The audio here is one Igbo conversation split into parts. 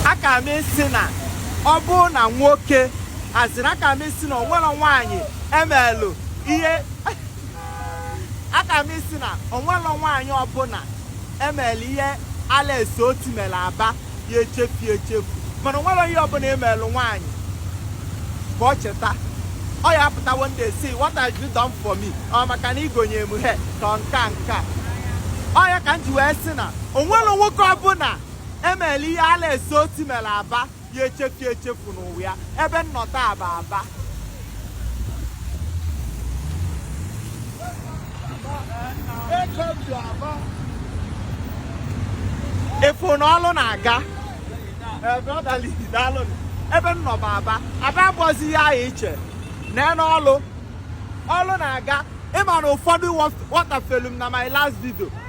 aka m isi na ọ bụrụ na nwoke azịrị aka m isi na onwere nwaanyị emelụ ihe aka m isi na onwerọ nwaanyị ọbụla emere ihe Alex Otti mere Aba ya echefu echefu mana onwerọ ihe ọbụla emelụ nwaanyị ka ọ cheta ọ ya apụta one day say what have you done for me ọ maka na ị gonye m ihe ka nka nka ọ ya ka m ji wee sị na onwerọ nwoke ọbụla emere ihe Alex Otti mere Aba ya echefu echefu n'ụwa ya ebe m nọ taa bụ Aba ị fụ na ọlụ na-aga ebe m nọ bụ Aba Aba abụọzi ihe ahụ iche nenee ọlụ ọlụ na-aga ịma na ụfọdụ wọtafelu m na my last video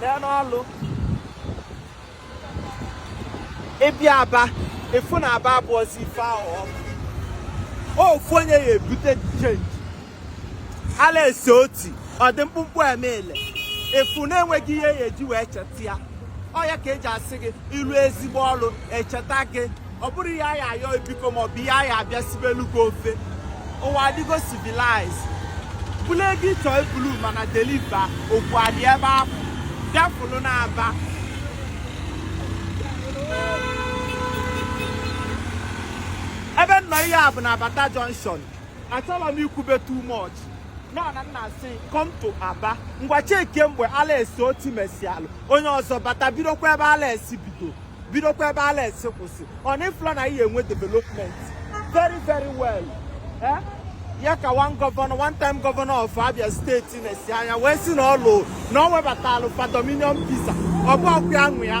nenee ọlụ ị bịa Aba ị fụ na Aba abụọzi ife ahụ ofu onye ya ebute change Alex Otti ọ dị mkpụmkpụ emele ị fụ na enweghị ihe a ya-eji wee cheta ya ọ ya ka eji asị gị ị rụọ ezigbo ọrụ echeta gị ọ bụrụ ihe a ya-ayọ biko maọbụ ihe a ya-abịa sibelu gị ofe ụwa adịgo civilize bulu ego ịchọ ebulu mana deliva okwu adị ebe ahụ bịa fụlụ na Aba ebe m nọ ihe a bụ na Bata Junction achọrọ m ikwube too much nọ na m na-asị come to Aba ngwa chekie mgbe Alex Otti mesialụ onye ọzọ bata bidokwa ebe Alex bido bidokwa ebe Alex kwụsị ọ na ịfụla na a ya-enwe development very very well eh? ya ka one gọvanọ one time gọvanọ of Abia steeti na-esi anya wee sị na ọlụ na ọ webatalụ fa Domino's Pizza ọ bụ ọkụ ya nwe ya